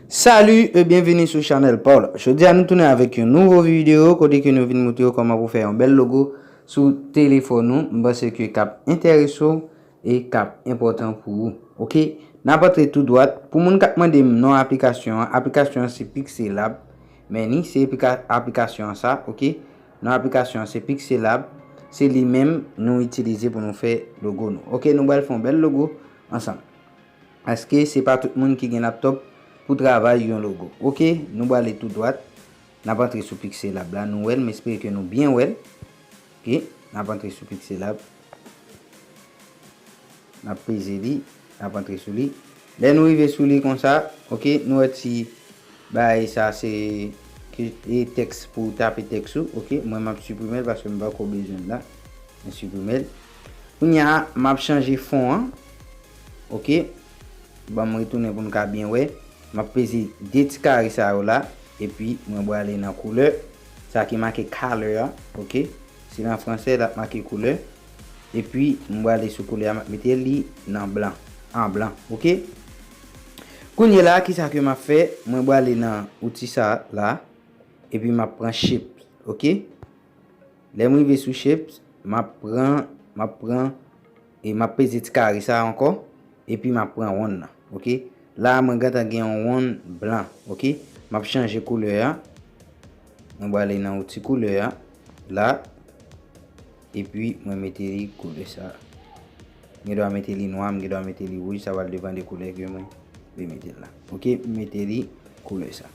Salut e byenvini sou chanèl pa w la. Jodi a nou tounen avèk yon nouvo videyo kote ke nou vin moutre w kòman pou fè yon bèl logo sou telefòn ou. M panse ke kap enterese w e kap enpòtan pou ou. Ok, nap antre tou dwat. Pou moun kap mande m non aplikasyon an, aplikasyon an se Pixelab. Men ni se aplikasyon an sa, ok. Nan aplikasyon an se Pixelab, se li menm nou itilize pou nou fè logo nou. Ok nou bal fè yon bèl logo ansanm. Paske se pa tout moun ki gen laptop pou travay yon logo. Ok nou bale tou dwat, nap antre sou Pixelab la nou wèl, m espere ke nou byen wèl. Ok nap antre sou Pixelab. N ap peze li, n ap antre sou li. Lè nou rive sou li konsa, ok, nou wè ti bagay sa se e tèks pou w tape tèks ou, ok. Mwen m ap siprime l paske m pa ko bezwen l la. Mwen siprime l. Kounya m ap chanje fon an, ok. Ban m retounen pou n ka byen wè. M ap peze 2 ti kare sa yo la, epi mwen brale nan koulè, sa ki make color a, ok. Si l an fransè l ap make koulè. Epi m brale sou koulè a m ap mete li nan blan. An blan. Ok. Kounyela a kisa ke m ap fè. Mwen brale nan outi sa la. Epi m ap pran shapes. Ok. Lè m rive sou shapes. M ap pran. M ap pran. E map peze ti kare sa ankò epi map pran wonn nan ok la mwen gentan gen yon wonn blan ok map chanje koulè a mwen bwale nan yon ti koulè a la epi mwen mete li koulè sa m gen dwa mete li nwa m gen dwa mete li wouj sa pral depan de koulè ke mwen vle mete la ok m mete li koulè sa.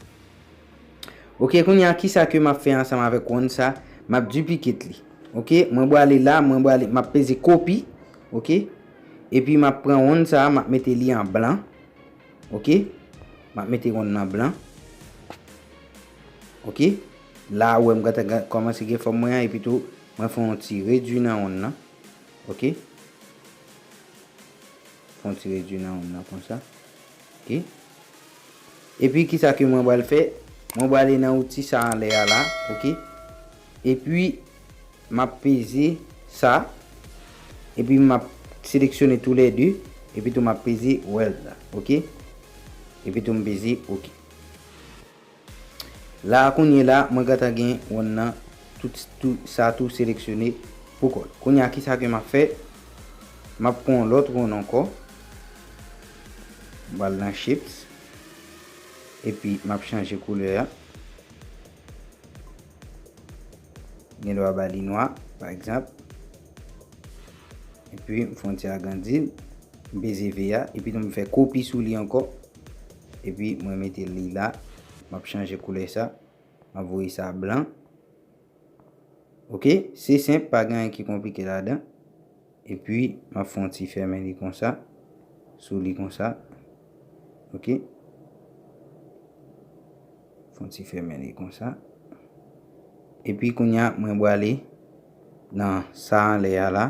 Ok kounya kisa ke map fè ansanm avèk wonn sa map duplicate li ok mwen bwale la mwen bwale map peze copy ok epi map pran wonn sa map mete li an blan ok map mete wonn nan blan ok la ou wè mwen ta kòmanse gen fòm mwen an epi tou mwen fè yon ti redwi nan wonn nan ok fè yon ti redwi nan wonn nan konsa ok. Epi kisa ke mwen bal fè, mwen bal ale nan outil sa anlè a la, ok. Epi map peze sa, epi map seleksyone tou lè 2, epi tou map peze weld la, ok. Epi tou m peze ok. La a kounye la mwen gentan gen wonn nan tout sa tou seleksyone pou kòl. Kounye a kisa ke map fè, map pran yon lòt wonn ankò. Mwen pral nan shapes. Epi map chanje koulè a. Gen dwa ba li nwa pa egzanp. Epi m fè yon ti agrandi l. M peze V a. Epi tou m fè kopi sou li ankò. Epi mwen mete li la. Map chanje koulè sa. Map voye sa blan. Ok se senp pa gen anyen ki konplike ladan epi map fè yon ti fèmen li konsa sou li konsa ok fè yon ti fèmen li konsa epi kounya mwen bwale nan sa anlè a la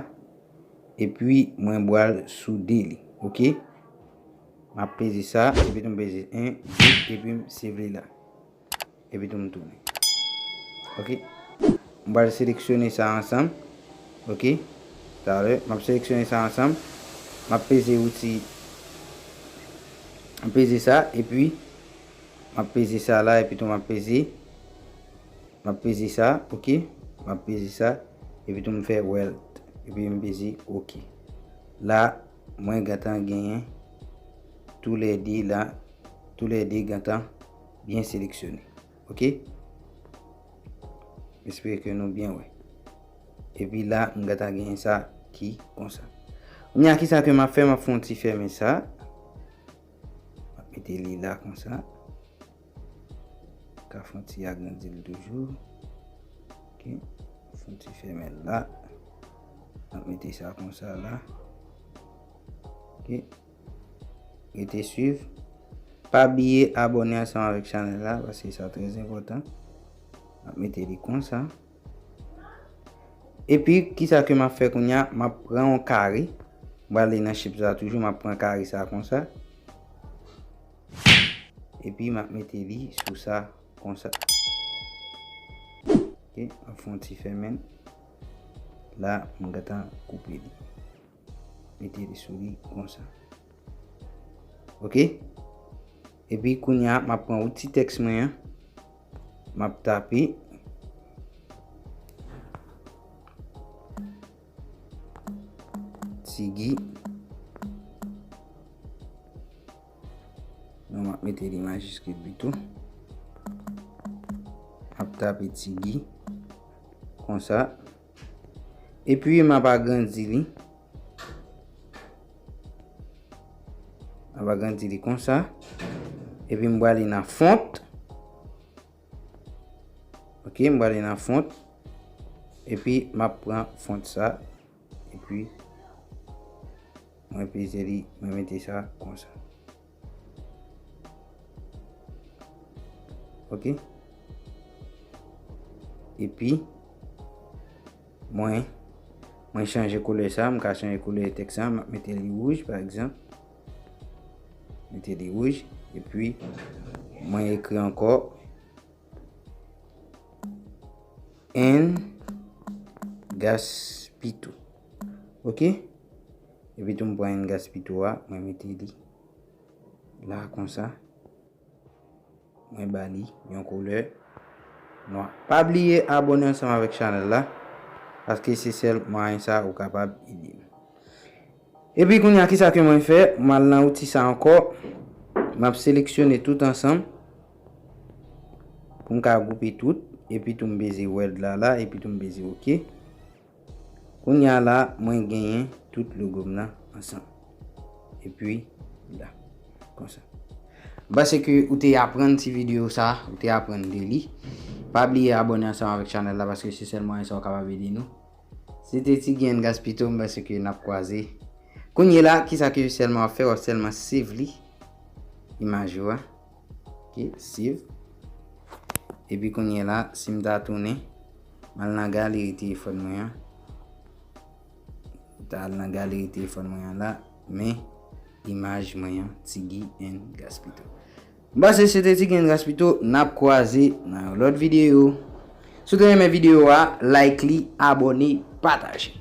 epi mwen bwal soude li ok map peze sa epi tou mpeze 1 2 epi m sevre la. Epi tou m tounen. Ok. M pral seleksyone sa ansanm. Ok. Talè. M ap seleksyone sa ansanm. M ap peze wouti. M peze sa. Epi. M ap peze sa la. Epi tou m ap peze. M ap peze sa. Ok. M ap peze sa. Epi tou m fè wèlt. Epi m peze ok. La. Mwen gentan genyen. Tou lè 2 la. Tou lè 2 gentan. Byen seleksyone. Ok. M espere ke nou byen wè. Epi la, m gata gen yon sa ki konsa. Kounya ki sa ke m ap fè, m ap fè yon ti fèmen sa. M ap mete li la konsa. Ka fè yon ti agrandi li toujou. Ok. Fè yon ti fèmen la. M ap mete sa konsa la. Ok. Rete swiv. Pa bliye abone ansanm avèk chanèl la paske sa trè enpòtan. Map mete li konsa. Epi kisa ke map fè kounya? Map pran yon kare. Mwen ale nan chips la toujou map pran kare sa konsa. Epi map mete li sou sa konsa. Ok, map fè yon ti fèmen. La mwen gentan koupe li. Mete li sou li konsa. Ok. Epi kounya m ap pran outi tèks mwen an. M ap tape. Tigi. Non m ap mete li majiskil pito. M ap tape tigi. Konsa. Konsa. Epi m ap agrandi li. M ap agrandi li konsa. Epi m bwale nan font. Ok, m bwale nan font. Epi m ap pran font sa. Epi mwen peze li, mwen mete sa konsa. Ok. E pi, mwen, mwen chanje koule sa, mwen ka chanje koule etek sa, mwen mete li wouj, pa egzan. Mete li wouj, e pi, mwen ekri anko. En, gas, pi tou. Ok Epi tou m pran yon gas pito a mwen mete li la konsa. Mwen ba li yon koulè nwa. Pa bliye abone ansanm avèk chanèl la. Paske se sèl mwayen sa ou kapab ede m. Epi kounye a kisa ke mwen fè. M al nan outi sa ankò. M ap seleksyone tout ansanm. Pou m ka goupe tout. Epi tou m beze wèld la la. Epi tou m beze ok. Kounya la mwen genyen tout logo m nan ansanm. Epi la. Konsa. M panse ke ou te aprann ti video sa, ou te aprann de li. Pa bliye abone ansanm avèk chanèl la paske se sèl mwayen sa ou kapab ede nou. Se te ti grenn gaspito m panse ke nap kwaze. Kounye la kisa ke sèlman wap fè wap sèlman save li. Imaj ou a. Ok, siv. Epi kounye la, si m ta tounen, m al nan galeri telefòn mwen an. M ta al nan galeri telefòn mwen an la, men imaj mwen an, Tigi and Gaspito. M panse se te Tigi and Gaspito, n ap kwaze nan yon lòt videyo. Si w te renmen videyo a, like li, abòne, pataje.